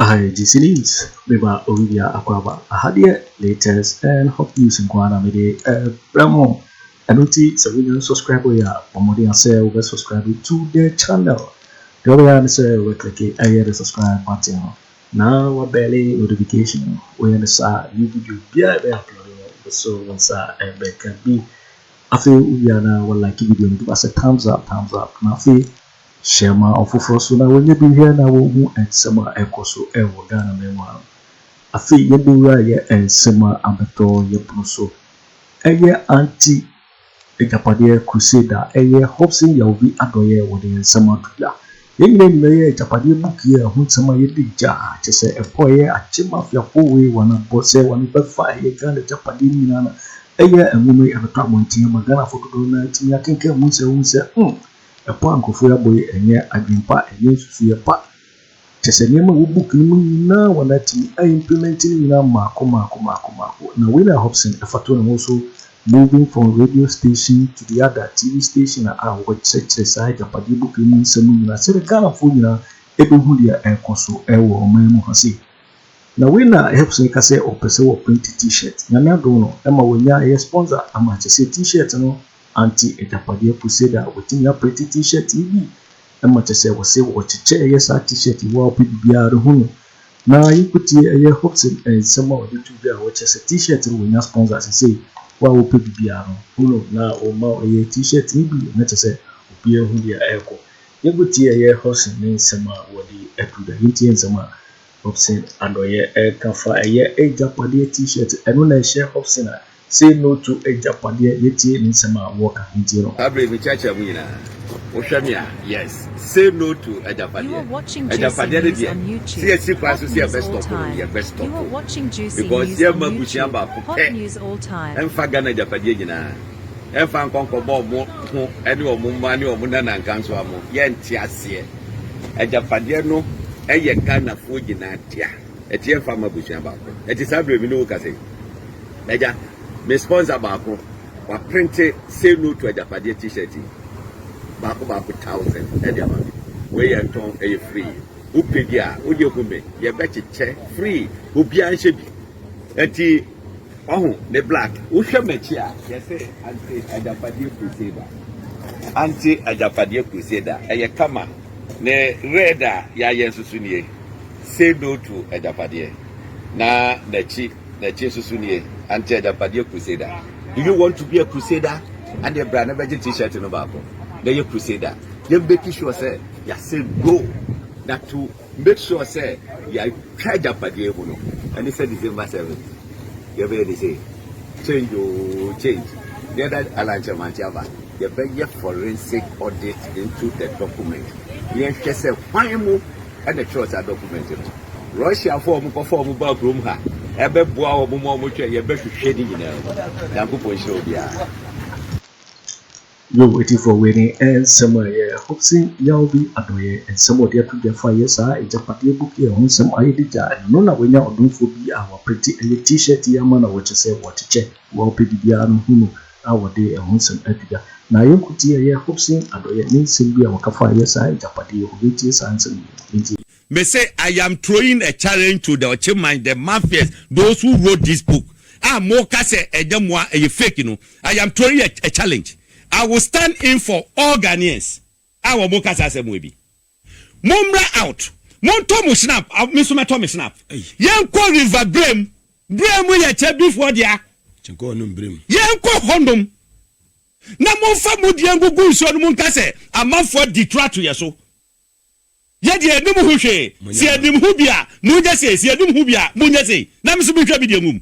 Aha yɛ GC News, me ba Olivia Akwaba. Aha deɛ latest and hot news nko ara na me de ɛbrɛ mo. Ɛno nti sɛ wonya nsubscribe yɛ a, bɔ mmɔden asɛ wobɛ subscribe to the channel. Deɛ wobɛyɛ ne sɛ wobɛklike ɛyɛ the subscribe button no na wabɛle notification no. Woyɛ ne saa new video biara ɛbɛ upload no wobɛso wo nsa ɛbɛka bi. Afei wowie a na walike video no de basɛ thumbs up thumbs up na afei Hyɛ ma ɔfoforɔ so na wɔnyɛ bi nhwɛ na wɔnhu nsɛm a ɛrekɔ so wɔ Ghana man mu ha no. Afei yɛbɛwura yɛ nsɛm a abɛtɔ yɛ pono so. Ɛyɛ Anti Agyapadeɛ Crusade a ɛyɛ Hobson Yaovi Adɔeɛ wɔde yɛn nsɛm ato dwa. Yɛn nyinaa nim ɛyɛ Agyapadeɛ book yi a ɛho nsɛm a yɛde gya a kyerɛ sɛ ɛpo a ɛyɛ akye mafiafoɔ wei wɔn abɔ sɛ wɔn bɛfa ɛyɛ Ghana agyapadeɛ no nyinaa no. Ɛyɛ nwoma yi ɛbɛtɔ abɔnten ama Ghanafoɔ dodoɔ no ara atumi akenkan mu sɛ wɔhu sɛ hmm! Ɛpo a nkurɔfoɔ abɔ yi, ɛnyɛ adwene pa, ɛnyɛ nsusuiɛ pa. Kyerɛ sɛ, nneɛma a ɛwɔ book no mu nyinaa wɔatumi a implement ne nyinaa mmaako mmaako mmaako mmaako. Na wei na Hobson fa to ne ho so, moving from radio station to the other, TV station a wɔkyerɛkyerɛ saa agyapadeɛ book yi mu nsɛm nyinaa sɛdeɛ Ghanafoɔ nyinaa bɛhu deɛ ɛrekɔ so wɔ ɔman mu ha sei. Na wei na Hobson ka sɛ ɔpɛ sɛ wɔprente T-shirt. Nyame adom no, ɛma wɔanya ɛyɛ sponsor ama kyerɛ sɛ T-shirt no, Anti agyapadeɛ crusade a wɔtumi apre te t-shirt yi bi ma kyɛ sɛ wɔse wɔkyekyɛ ɛyɛ saa t-shirt yi woa wopɛ biribiara rehu no na yɛnkɔtie ɛyɛ Hobson nsɛm a ɔde to dwa a wɔkyerɛ sɛ t-shirt no wɔnya sponsor sesei woa wopɛ biribiara no hu no na wɔma wo ɛyɛ t-shirt yi bi na kyɛ sɛ obiara nhu deɛ ɛrekɔ yɛnkɔtie ɛyɛ Hobson ne nsɛm a ɔde to dwa yɛntie nsɛm a Hobson adɔeɛ ɛka fa ɛyɛ agyapadeɛ t-shirt ɛno na ɛhyɛ Hobson a say no to agyapadeɛ yɛtie ne nsɛm a wɔka ntie no. Abre me kyerɛkyerɛ mu nyinaa wohwɛ me a yes say no to agyapadeɛ agyapadeɛ no deɛ sɛ yɛsi kwan so sɛ yɛbɛ stop no yɛbɛ stop because yɛ mma abusua baako pɛ ɛmfa Ghana agyapadeɛ nyinaa ɛmfa nkɔ nkɔbɔ ɔmo ho ɛne ɔmo mma ne ɔmo nanankansowa mo yɛnte aseɛ. Agyapadeɛ no yɛ Ghanafoɔ nyinaa dea. Ɛte yɛmfa mma abusua baako. Ɛte saa berɛ me ne wo kasa yi. Agya, me sponsor baako, waprente Say No to Agyapadeɛ t-shirt yi. Baako baako thousand ɛde ama me. Wei yɛ ntɔn, ɛyɛ free. Wopɛ bi a, wo deɛ hu me. Yɛbɛkyekyɛ free. Obiara nhyɛ bi. Ɛti Wahu ne black. Wohwɛ m'akyi a, yɛsɛ Ante Agyapadeɛ Crusader. Ante Agyapadeɛ Crusader. Ɛyɛ kama. Ne red a yɛayɛ nso so nie. Say no to Agyapadeɛ. Na n'akyi, n'akyi nso so nie. Ante Agyapadeɛ Crusader. Do you want to be a crusader? Ɛnneɛ bra na bɛgye t-shirt no baako na yɛ crusader. Yɛmbɛki sure sɛ yɛasɛ no na to Make sure sɛ yɛatwa agyapadeɛ mu no ɛne sɛ December seven yɛbɛyɛ ne sɛ change oo change ne ɛda alankyɛmankye aba yɛbɛyɛ forensic audit into the document ne yɛhwɛ sɛ hwan mu ɛna ɛtwerɛ saa document no Russiafoɔ a wɔkɔfa wɔn baa kurom ha ɛbɛboa wɔn ma wɔtwɛ yɛbɛhwehwɛ ne nyinaa mu Nyankopɔn nhyira obiara. Yoh atifoɔ wei ne eh nsɛm a ɛyɛ eh hope se yaw bi adɔeɛ eh nsɛm a ɔde ato dwa fa yɛ saa agyapadeɛ book yi ɛho nsɛm ayɛ de gya eh ɛno na wanya ɔdomfoɔ bi a waprinte ɛyɛ t-shirt yi ama na wɔkyɛ sɛ wɔkyekyɛ wo a wopɛ biribiara no hu no a wɔde ɛho nsɛm ato dwa na ayɛ nkuti ɛyɛ hope se adɔeɛ ne nsɛm bi a wɔka fa yɛ saa agyapadeɛ yi ho yɛntie saa nsɛm yi yɛntie. Me se I am throwing a challenge to the Ɔkyeman, the mafias, those who wrote this book a moka sɛ ɛnyɛ mo a ɛyɛ fake no, I am throwing a a challenge, I will stand in for all Ghanaians a wɔn ka saa asɛm wei bi. Mommra out, montɔ mo shnap, me nso mɛtɔ me shnap, yɛnkɔ river berɛ mu. Berɛ mu yɛ Kyebifoɔ dea. Yɛnkɔ hɔ nom na momfa mo deɛ ngugu nsuo no mu nka sɛ amanfoɔ adi toro ato yɛn so. Yɛ deɛ yɛnim ho hwee. Sɛ yɛnim ho bi a, monyɛ sei, sɛ yɛnim ho bi a, monyɛ sei, na me nso menhwɛ me deɛ ngu mu.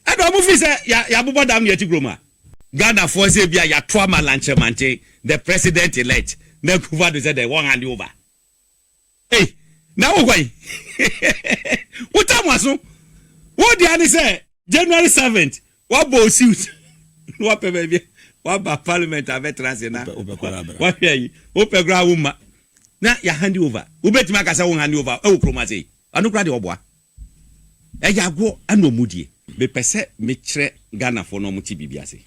Ɛdɔɔ mo firi sɛ yɛabobɔ dam ne yɛte kurom a. Ghanafoɔ sɛ ebia yɛato ama Lanchemanten, the president elect, na Akuffo Addo sɛ dɛn, wɔnhande over. Ei, na wo hwan? Wotaa mo aso. Wo deɛ ara ne sɛ January seventh, Wabɔ wo suit na wapɛ baabi waba parliament abɛtra ase na wahwɛ ayi. Wopɛ koraa womma na yɛ hande over. Wobɛtumi aka sɛ wo hande over wɔ kurom ase yi? Ɛno koraa deɛ ɔboa. Ɛyɛ agoɔ na ɔmudie. Mepɛ sɛ mekyerɛ Ghanafoɔ na ɔmote biribi ase.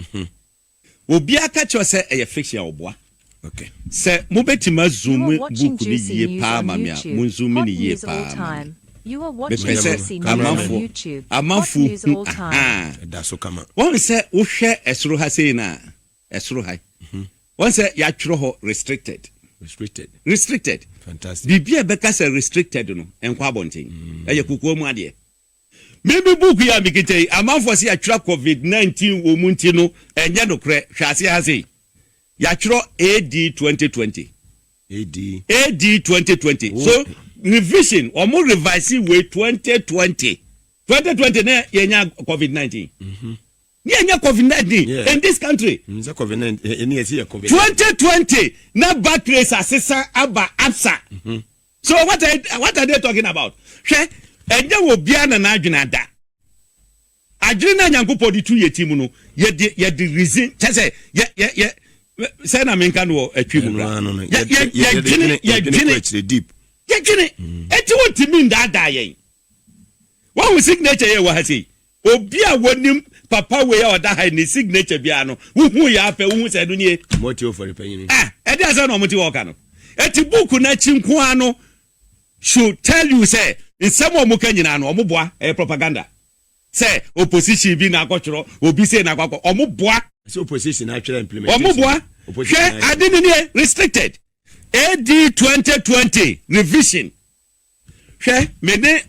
Obiara ka kyerɛ wo sɛ ɛyɛ fiction a ɔboa. Sɛ mobɛtumi azoome book no yie paa ma me a monzoome no yie paa ma me. Mepɛ sɛ amanfoɔ amanfoɔ hu ahaa. Wahu sɛ wohwɛ ɛsoro ha sei no a, ɛsoro ha yi, wahu sɛ yɛatwerɛ hɔ restricted. Restricted. Biribi a ɛbɛka sɛ restricted no, ɛnkɔ abɔnten. Ɛyɛ kokoa mu adeɛ. Me me book yi a me kita yi, amanfoɔ se yatwerɛ covid 19 wɔ mu nti no ɛnyɛ nokorɛ, hwɛ aseɛ ha sei, yatwerɛ AD 2020. AD. AD 2020, so revision, wɔn revise wei 2020, 2020 na yɛnya covid 19. Mm -hmm. Ne yɛnya covid 19 yeah. in this country. Mm, sɛ covid 19 ɛne yɛsi yɛ covid. 2020 na back race asesa aba absa. Mm -hmm. So what are, what are they talking about? Hwɛ, ɛnyɛ obiara na n'adwene ada. Adwene no a Nyankopɔn de tu yɛ ti mu no, yɛde yɛde reason kyɛ sɛ yɛ yɛ yɛ sɛ na menka no wɔ atwi mu kora. Yɛdwene yɛdwene yɛdwene. Eti wontumi ndaadaa yɛn. Wahu signature yɛ wɔ ha sei? Obi a wonim papa wei a ɔda ha yi ne signature biara no, wohu yɛ afɛ, wohu sɛ ɛno nie? Mote ofori panyin yi. Ah, ɛde asɛm na wɔte hɔ reka no. Enti book no akyi nko ara no should tell you sɛ nsɛm a wɔka nyinaa no wɔboa, ɛyɛ propaganda. Sɛ opposition bi na akɔtwerɛ, obi sei na akɔakɔ, wɔboa. Sɛ opposition na atwerɛ implementation. Wɔboa. Hwɛ ade no nie, restricted. AD 2020 revision. Hwɛ, me ne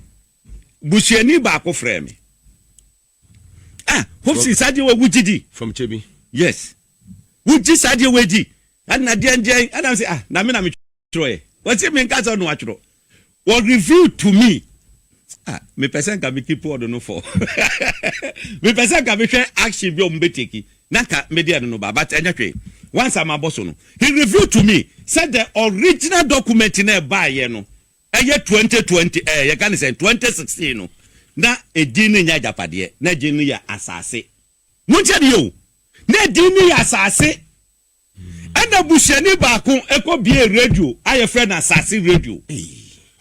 busuani baako frɛɛ me. Ah, Hobson, saa adeɛ wɔ wogye di? From Kyebi. Yes. Wogye saa adeɛ wɔ di? Ɛna deɛ deɛ, ɛna sɛ ah, na me na me twerɛ ɛ. Wɔsi me nka sɛ ɔno atwerɛ. Wɔ review to me. Ah, me pɛ sɛ nka me keep ɔdo no for. Me pɛ sɛ nka me hwɛ action bi a wɔn bɛ take. na nka me deɛ no no ba but ɛnyɛ hwee once a mabɔ so no he revealed to me sɛ the original document no a ɛbaeɛ no ɛyɛ twenty twenty ɛɛ yɛka no sɛn twenty sixteen no na edin no nyɛ agyapadeɛ na edin no yɛ asaase montie adeɛ o na edin no yɛ asaase. Ɛna busuani baako kɔ biee radio a yɛfrɛ no Asase Radio.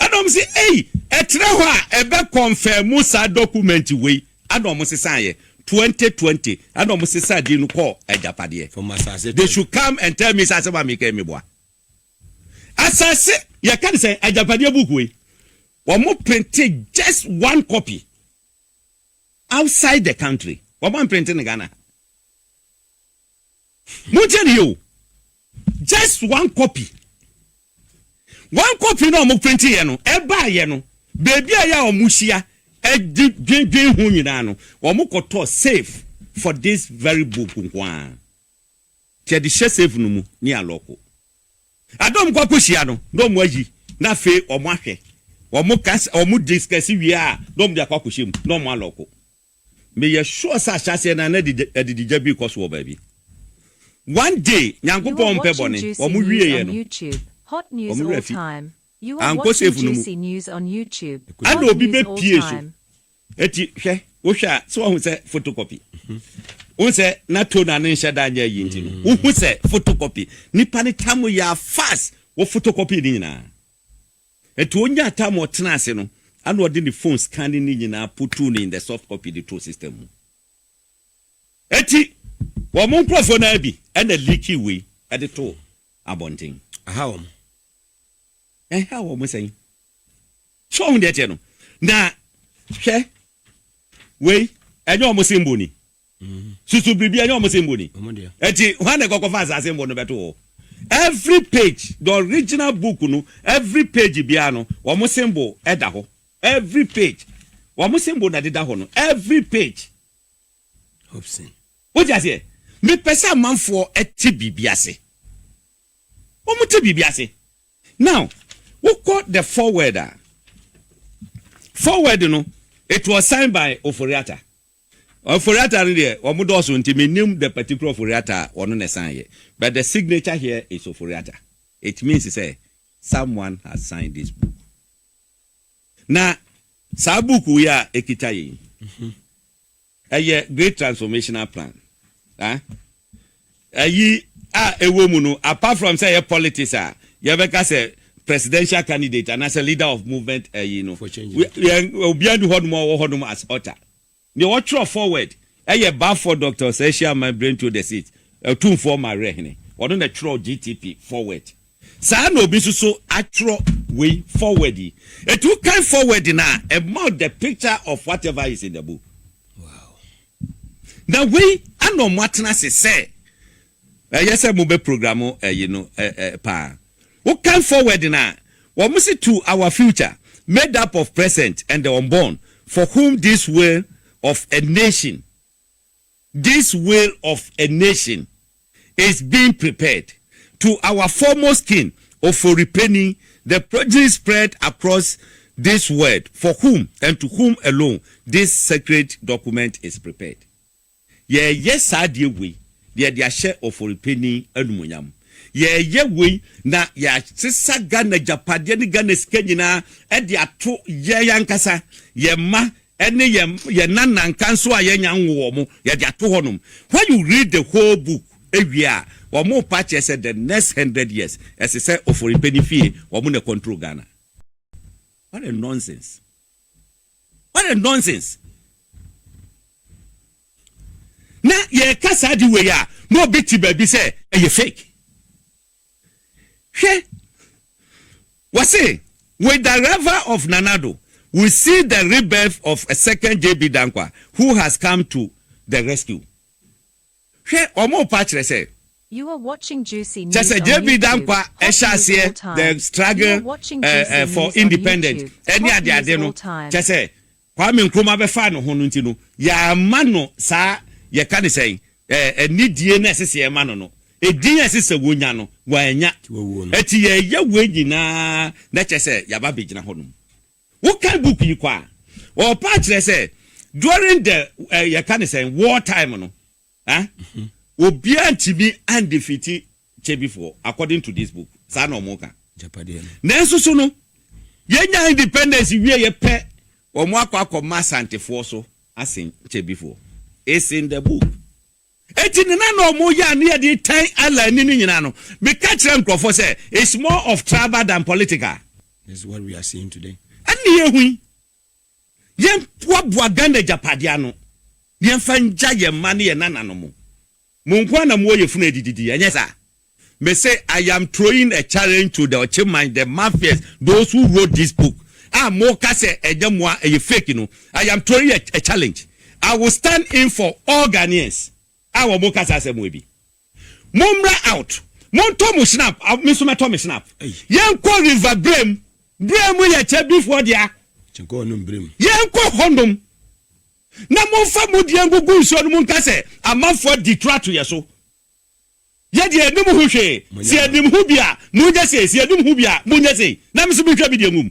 Ɛna wɔn se, Ei, ɛtrɛ hɔ a ɛbɛ kɔnfɛɛmu saa dɔkumɛnti wei. Ɛna wɔn sesaeɛ. Twenty twenty, ɛna wɔn sesaa din no kɔɔ agyapadeɛ. From Asase. They should come and tell me sɛ asɛm a meka yi meboa. Asase, yɛka no sɛ agyapadeɛ book wei, wɔn printe just one copy outside the country. Wɔn amprinte no Ghana ha. Montie no yie o, just one copy, one copy no a wɔprintiiɛ no, ɛbaeɛ no, baabiara a wɔhyia de dwendwen ho nyinaa no, wɔkɔtɔɔ safe for this very book nko ara. Nti yɛde hyɛ safe no mu ne alɔko. Ada a wɔkɔ akɔhyia no, na wɔayi, na afei wɔahwɛ, wɔka, wɔdiscuss wie a, na wɔde akɔ akɔhyɛ mu, na wɔalɔko. Meyɛ sure sɛ ahyɛaseɛ no ara na adididwa bi rekɔ so wɔ baabi. One day, Nyankopɔn mpɛ bɔne, wɔn wieɛ no, wɔn werɛ afi. Ankɔ safe no mu. Ɛna obi bɛpie so. Enti hwɛ, wohwɛ a, sɛ wahu sɛ photocopy? Wohu sɛ na tone a ne nhyɛ da nyɛ ayi nti no, wohu sɛ photocopy. Nnipa no tam yɛ a fast, wɔ photocopy ne nyinaa. Ɛto onyaa time a ɔtenaa ase no, ana ɔde ne phone scanning no nyinaa putuu no in the soft copy de too system mu. Enti wɔn nkurɔfoɔ no ara bi na leakii wei de too abɔnten. Aha wɔn. Ɛha wɔn sɛn? So wohu deɛ ɛteɛ no? Na hwɛ, wei ɛnyɛ wɔn symbol ni. Susu biribi ɛnyɛ wɔn sɛnbo ni. Ɛti hwan na ɛkɔkɔ fa saa sɛnbo no bɛto hɔ? Every page the original book no every page biara no wɔn sɛnbo ɛda hɔ every page wɔn sɛnbo na ɛdeda hɔ no every page. Hobson. Wote aseɛ? Mepɛ sɛ amanfoɔ ɛte biribi ase. Wɔn te biribi ase. Now wokɔ the forward a forward no it was signed by Ofori-Atta. Ofori-Atta no deɛ wɔn dɔɔso nti me nim the particular Ofori-Atta a ɔno na ɛsan yɛ but the signature here is Ofori-Atta it means sɛ someone has signed this book na saa book yi a ɛkita yɛn yi ɛyɛ great transformational plan ah. ayi a ɛwɔ mu no apart from sɛ ɛyɛ politics a yɛbɛka sɛ presidential candidate anaasɛ leader of movement ayi no obiara ni hɔnom a ɔwɔ hɔnom as author deɛ wɔtwerɛ forward ɛyɛ Balfour Doctor Ɔsɛehye Aman Brento the sixth Otumfoɔ Mawerɛhene ɔno na ɛtwerɛ GTP forward saa na obi nso so atwerɛ wei forward yi ɛti wokan forward no a ɛma the picture of whatever is in the book. Na wei na ɔmo atena ase sɛ ɛyɛ sɛ ɔmo bɛ program ɛyi no paa. Wo kan forward no a, ɔmo se to our future made up of present and the unborn for whom this will of a nation, this will of a nation. is being prepared. To our foremost king, Oforipeni, the progeny spread across this world for whom and to whom alone this sacred document is prepared. Yɛreyɛ saa adeɛ wei na yɛde ahyɛ Oforipeni animuonyam. Yɛreyɛ wei na yɛasesa Ghana agyapadeɛ ne Ghana sika nyinaa de ato yɛn ankasa, yɛn mma, ɛne yɛn yɛn nananka nso a yɛnnya nwo wɔn, yɛde ato hɔnom. When you read the whole book ɛwie a, wɔn pa kyerɛ sɛ the next hundred years ɛse sɛ Oforipani fie wɔn na control Ghana. What a nonsense! What a nonsense! Na yɛreka saa ade wei a, na obi te baabi sɛ ɛyɛ fake. Hwɛ, wɔse, With the arrival of Nana Addo, we see the rebirth of a second JB Danquah who has come to the rescue. Hwɛ, wɔrepa akyerɛ sɛ. You are watching Juicy News on YouTube. Kyerɛ sɛ JB Danquah ɛhyɛ aseɛ the struggle for independent ɛne adeade no, kyerɛ sɛ Kwame Nkrumah bɛfaa ne ho no nti no, yɛamma no saa, yɛka no sɛn, ɛɛ, nidie no a ɛsɛ sɛ yɛma no no, edin a ɛsɛ sɛ wɔnya no, wannya. Enti yɛreyɛ wei nyinaa na kyerɛ sɛ yɛaba abɛgyina hɔnom. Wokan book yi kɔ a, ɔɔpa akyerɛ sɛ during the, ɛɛ, yɛka no sɛn, war time no, Huh? Obiara ntumi andefeati Kyebifoɔ according to this book. Saa na wɔn ka. Agyapadeɛ no. Nanso so no, yɛnya independence wieɛ pɛ, wɔn akɔ akɔma Asantefoɔ so asen Kyebifoɔ. It's in the book. Eti ne na na wɔn yɛ a ne yɛde tan Allah ni no nyinaa no, meka kyerɛ nkurɔfoɔ sɛ it's more of tribal than political. This is what we are seeing today. Ɛne yɛhu yi. Yɛmboaboa Ghana agyapadeɛ ano na yɛmfa ngya yɛn mma ne yɛn nananom. Mo nko ara na mowɔ yafunu a ɛdidi di, ɛnyɛ saa? Mese I am throwing a challenge to the Ɔkyeman, the Mafias, those who wrote this book a moka sɛ ɛnyɛ mo a ɛyɛ fake no, I am throwing a challenge. I will stand in for all Ghanaians a wɔka saa asɛm wei bi. Mommra out montɔ mo snap me nso mɛtɔ me snap yɛnkɔ river berɛ mu. Berɛ mu yɛ kyɛ bifoɔ dea yɛnkɔ hɔ nom na momfa mo deɛ ngugu nsuo no mu nka sɛ amanfoɔ di tura to yɛ so yɛ deɛ yɛnim ho hwee sɛ yɛnim ho bi a monyɛ sei sɛ yɛnim ho bi a monyɛ sei na me nso menhwɛ me deɛ ngum.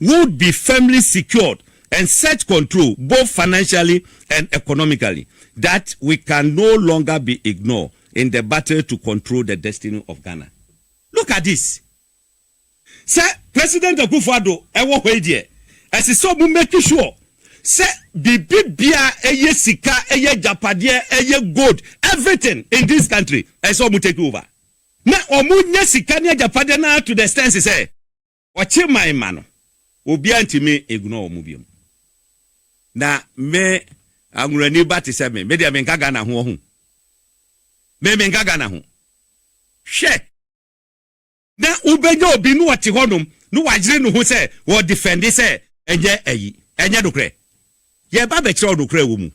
would be firmly secured and set control both financially and economically that we can no longer be ignore in the battle to control the destiny of Ghana. Look at this, sɛ President Akuffo Addo wɔ hɔ yi deɛ, ɛse sɛ ɔmo make sure sɛ biribi biaa ɛyɛ sika, ɛyɛ agyapadeɛ, ɛyɛ gold, everything in this country, ɛse sɛ ɔmo take over. Na ɔmo nya sika ne agyapadeɛ no ara to the extent sɛ. Wɔkye mae ma no. Obiara ntumi ignore wɔn bio. Na me Anwurani ba te sɛ me, me deɛ menka Ghana ho ɔho. Me menka Ghana ho. Hwɛ! Na wobɛnya obi na ɔte hɔnom na wayere ne ho sɛ ɔredefɛnde sɛ ɛnyɛ ayi, ɛnyɛ nokorɛ. Yɛreba abɛkyerɛ wo nokorɛ a ɛwɔ mu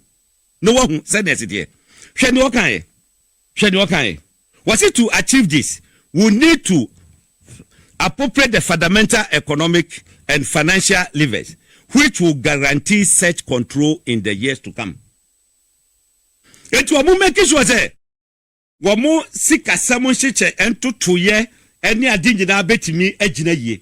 na woahu sɛdeɛ ɛteteɛ. Hwɛ deɛ ɔkaeɛ. Hwɛ deɛ ɔkaeɛ, ɔse to achieve this we need to appropriate the fundamental economic and financial levers which will guarantee such control in the years to come. Enti wɔn make sure sɛ wɔn sikasɛm nhyekyɛ ntotoeɛ ne ade nyinaa bɛtumi agyina yie.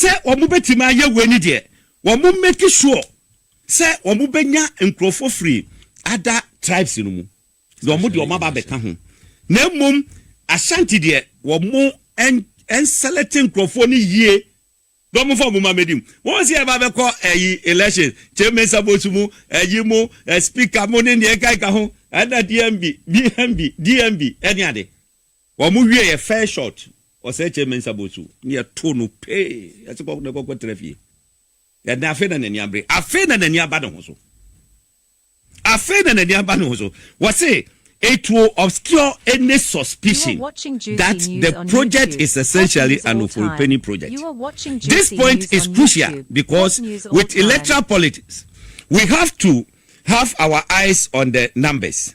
Sɛ wɔbɛtumi ayɛ wei no deɛ, wɔmmake sure sɛ wɔbɛnya nkurɔfoɔ firi other tribes no mu, na wɔde wɔn aba abɛka ho. Na mmom Ashanti deɛ, wɔnselɛkte nkurɔfoɔ no yie na wɔmfa wɔn mma mmɛdi mu. Wɔn sɛ yɛba abɛkɔ ayi election, Kyei Mensah Bosu mu, ayi mu, Speaker mu ne deɛ ɛkeka ho, ɛna DMB, DMB, DMB ne ade. Wɔn wie yɛ fair shot ɔsɛɛ kyɛ Mensah Bosu ne yɛ too no pee yɛse kɔ na kɔ kɔ tra fie yɛde afei na nani abere afei na nani aba ne ho so afei na nani aba ne ho so wɔse it will obscure any suspicion that the project is essentially an Oforipeni project. This point is crucial because with electoral politics, we have to have our eyes on the numbers.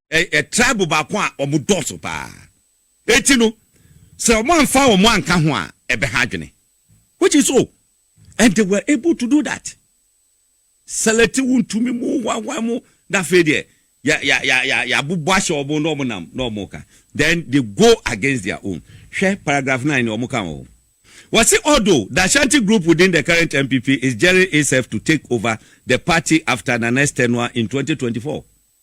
Ɛyɛ tribe baako a wɔn dɔɔso paa. Enti no, sɛ wɔn amfa wɔn anka ho a, ɛbɛha adwene. Which is so. And they were able to do that. Select wo ntumi mu, wa, wa mu, na afei deɛ, ya, ya, ya, ya, ya bobɔ ahyɛ wɔn na wɔn nam, na wɔn ka. Then they go against their own. Hwɛ paragraph nine ni wɔn ka wɔ hɔ. Wɔsi although the Ashanti group within the current NPP is gearing itself to take over the party after Nana Estenua in twenty twenty four.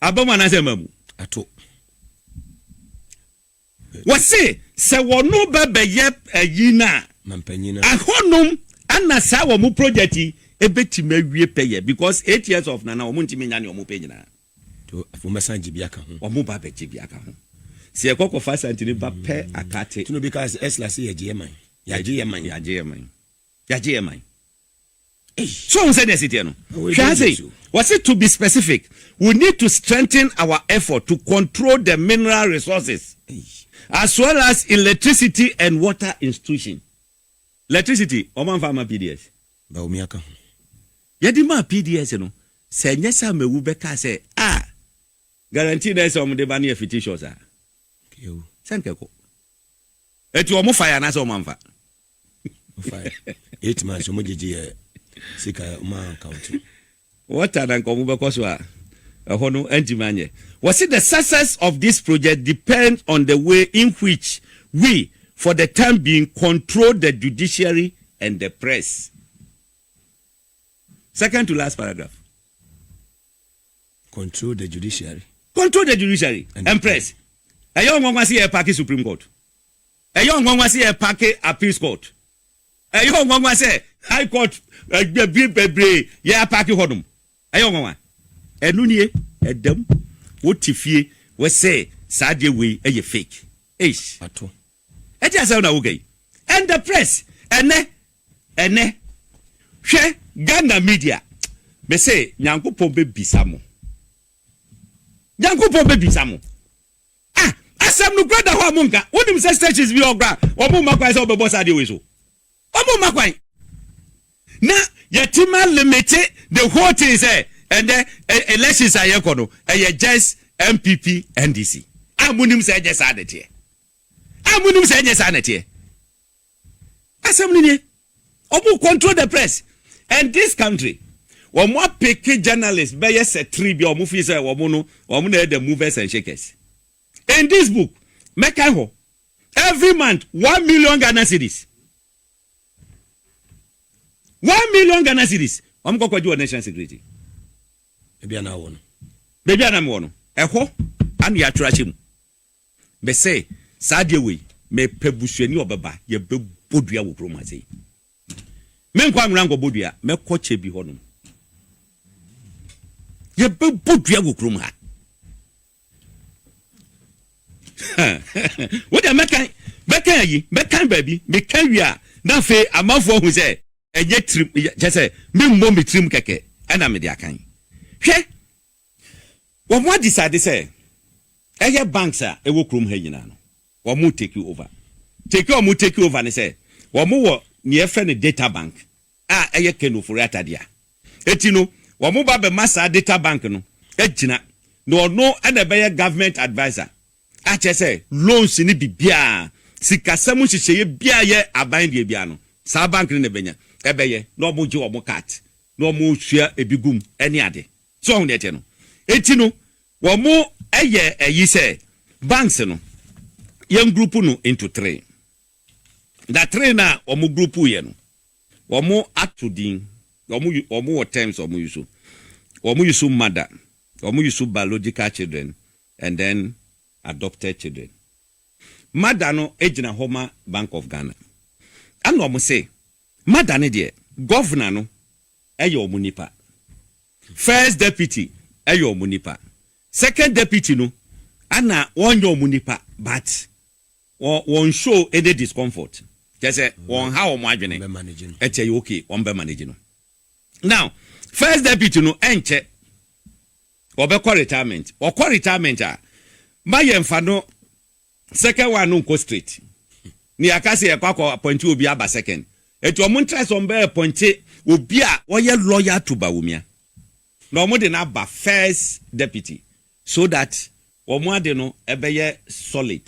Aba mu anaasɛ mma mu? Ato. Wɔse sɛ wɔno ba bɛyɛ ayi no a, ahɔnom ana saa wɔn project yi ɛbɛtumi awie pɛyɛ because eight years of nana wɔn ntumi nya ne wɔn pɛ nyinaa. Afei wɔbɛsan gye bi aka ho. Wɔn ba bɛgye bi aka ho. Sɛ yɛkɔ kɔfa asantini ba pɛ akate. Tino bi kaa sɛ ɛsla sɛ yɛgye yɛ man. Yɛagye yɛ man. Yɛagye yɛ man. Yɛagye yɛ man. So wohu sɛdeɛ ɛsi teɛ no? Hwɛ ha sei, wɔse to be specific, we need to strengthen our effort to control the mineral resources as well as electricity and water institution. Electricity, wɔamfa amma PDS. Bawumia ka ho. Yɛde maa PDS no, sɛ ɛnyɛ sɛ Amewu bɛkaa sɛ, ah, guarantee no a ɛsɛ wɔde ba no yɛ fictitious a, sɛ anka ɛkɔ. Enti wɔfaeɛ anaasɛ wɔamfa? Ɔfae. Eight months ɔmo gyegye yɛ sika ɔmo ankawote. Water na nka ɔmo bɛkɔ so a ɛhɔ no antumi anyɛ. Wɔse the success of this project depends on the way in which we for the time being control the judiciary and the press. Second to last paragraph. Control the judiciary. Control the judiciary and, and press. Ɛyɛ ɔnwanwa se yɛ party supreme court. Ɛyɛ ɔnwanwa sɛ yɛpake Appeals Court. Ɛyɛ ɔnwanwa sɛ High Court bɛ bebree yɛapake hɔnom. Ɛyɛ ɔnwanwa. Ɛno nie, ɛda mu. Wote fie, wɔsɛ saa adeɛ wei yɛ fake. Eish! Ato. Ɛte asɛm na woka yi. And the press, ɛnɛ, ɛnɛ, hwɛ Ghana media. Mese Nyankopɔn bɛbisa mo. Nyankopɔn bɛbisa mo. Ah asɛm no kura da hɔ a mo nka wonim sɛ stations bi wɔ hɔ kura a wɔn mma kwan sɛ wɔbɛbɔ saa adeɛ wei so wɔn mma kwan na yɛtima limite the whole thing sɛ ɛnɛ elections a yɛkɔ no ɛyɛ just npp ndc a monim sɛ ɛnyɛ saa na ɛteɛ a monim sɛ ɛnyɛ saa na ɛteɛ Asɛm no nie. Ɔmo control the press. And this country, ɔmo apeke journalist bɛyɛ sɛ three bi a ɔmo feel sɛ ɔmo no, ɔmo na ɛyɛ the movers and shakers. In this book, mɛkan hɔ. Every month, one million Ghana cedis. One million Ghana cedis. Ɔmo kɔ kɔgye wɔ national security. Ebi a na wɔ no. Baabi a na mewɔ no, ɛhɔ ana yɛatwerɛ ahyɛ mu. Me se, saa adeɛ wei, mepɛ busuani a ɔbɛba, yɛbɛbɔ dua wɔ kurom ha sei. Menkɔ Anwera nkɔbɔ dua, mɛkɔ Kyebi hɔnom. Yɛbɛbɔ dua wɔ kurom ha. Wo deɛ mɛkan, mɛkan ayi, mɛkan baabi, meka wie a, na afei amanfoɔ ahu sɛ ɛnyɛ tirim, kyɛ sɛ memmɔ me tirim kɛkɛ ɛna mede akan. Hwɛ, Wɔn a decide sɛ ɛyɛ banks a ɛwɔ kurom ha nyinaa no wɔn take over. Take a wɔn take over ne sɛ wɔn wɔ nea yɛfrɛ no data bank a ɛyɛ Ken Ofori-Atta dea. Eti no wɔn ba bɛ ma saa data bank no agyina na ɔno na ɛbɛyɛ government adviser akyerɛ sɛ loans ne bibiaa sikasɛm nhyehyɛeɛ biaa yɛ aban deɛ biaa no saa bank no na ɛbɛnya ɛbɛyɛ na wɔn gye wɔn cut na wɔn sua ebi gum ɛne ade. So wahu nea ɛteɛ no? Enti no, wɔayɛ ayi sɛ banks no, yɛngruupu no into three. Na three no a wɔgruupuuiɛ no, wɔato din, wɔwɔ terms a wɔyusu. Wɔyusu mother, wɔyusu biological children and then adopted children. Mother no gyina hɔ ma Bank of Ghana. Ɛna wɔse. Mada no deɛ governor no yɛ ɔmo nipa, first deputy yɛ ɔmo nipa, second deputy no ana wɔn nyɛ ɔmo nipa but wɔn wɔn show any discomfort kyɛ sɛ wɔn ha ɔmo adwene ɛkyɛ yɛ okay wɔn bɛ manage no now first deputy no ɛnkyɛ ɔbɛkɔ retirement ɔkɔ retirement a ma yɛn fa no Second one no nkɔ straight. Ne yɛaka sɛ yɛkɔ akɔ appointe obi aba second. Nti ɔmo ntra sɛ ɔmo bɛ appointe obi a ɔyɛ lawyer to Bawumia. Na ɔmo de no aba first deputy so that ɔmo ade no ɛbɛyɛ solid.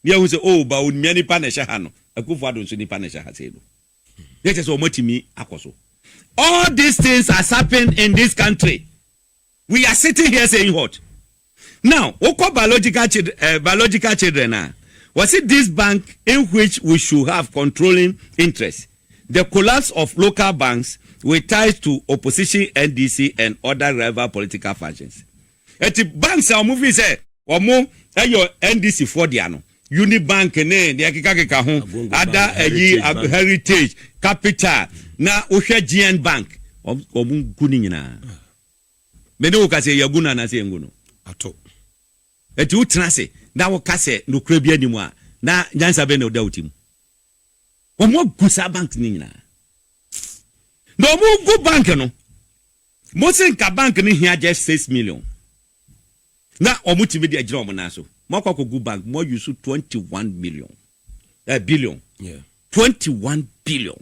Na yɛahu sɛ oh Bawumia nipa na ɛhyɛ ha no, Akuffo Addo nso nipa na ɛhyɛ ha sei no. Na ɛkyerɛ sɛ ɔmo atumi akɔ so. All these things has happened in this country. We are sitting here saying what? Now wokɔ biological children, uh, eh, biological children a, wɔsi this bank in which we should have controlling interest. The collapse of local banks with ties to opposition NDC and other rival political factions. Eti banks a wɔn fi sɛ wɔn ɛyɛ NDC foɔ deɛ no unibank ne deɛ kekakeka ho ada ayi heritage capital na wohwɛ gn bank wɔn gu ne nyinaa. Me ne wo ka sɛ, Yɛagu no anaasɛ yɛngu no? Ato. Enti wotena ase na woka sɛ nokorɛ biara nni mu a, na nyansa bɛn na ɔda wo tirim? Wɔagu saa bank no nyinaa. Na wɔregu bank no, mose nka bank no hia just six million, na wɔtumi de agyina wɔn nan so. Moakɔ akɔgu bank, moayusu twenty one million, eh, billion, Yeah. twenty one billion.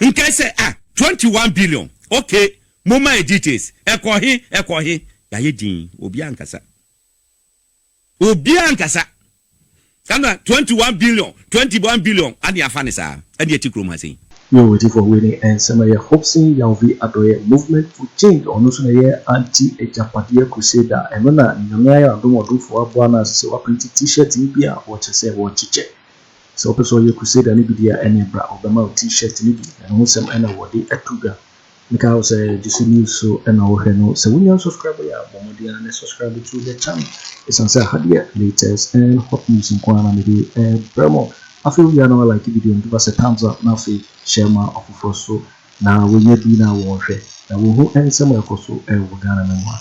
Nkae sɛ a twenty one billion ok momma yɛ details ɛkɔ he ɛkɔ he yayɛ dinn obiaa nkasa obiaa nkasa ɛna twenty one billion twenty one billion ane afa ne saa ɛne ɛte krom ha sei. Yoo ɔtifoɔ wei ne nsɛm ɛyɛ Hobson Yawvi Adɔeɛ Movement for Change ɔno nso na ɛyɛ Anti Agyapadeɛ Crusader ɛno na Nyame ayɛ no adom ɔdomfoɔ aboa no a ɛsɛ sɛ waprinti T-shirt no bi a wɔkyɛ sɛ wɔkyekyɛ. Sɛ wopɛ sɛ ɔyɛ Crusader no bi deɛ a, ɛneɛ bra, ɔbɛma wo T-shirt no bi, na ne ho sɛm na wɔde ato dwa. Mekae wo sɛ Juicy News so na wohwɛ no, sɛ wonya nsɔskraibo yɛ a, bɔ mmɔden ara na subscribe to the channel, ɛsiane sɛ ha deɛ latest and hot news nko ara na mede rebrɛ mo. Afei wowie a na woalike video no, give us a thumbs up, na afei share ma afoforɔ nso. na wɔnya bi na wɔhwɛ na wɔhu nsɛm a ɛkɔ so wɔ Ghana no mu a,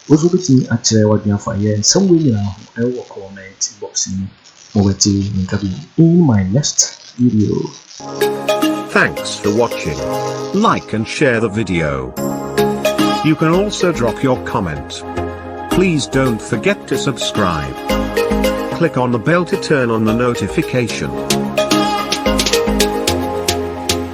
wo nso wobɛtumi akyerɛ w'adwene afa yɛn nsɛm wei nyinaa ho wɔ comment box no mu ma wɔate ne nka bio in my next video. Thanks for watching. Like and share the video. You can also drop your comment. Please don't forget to subscribe. Click on the bell to turn on the notification.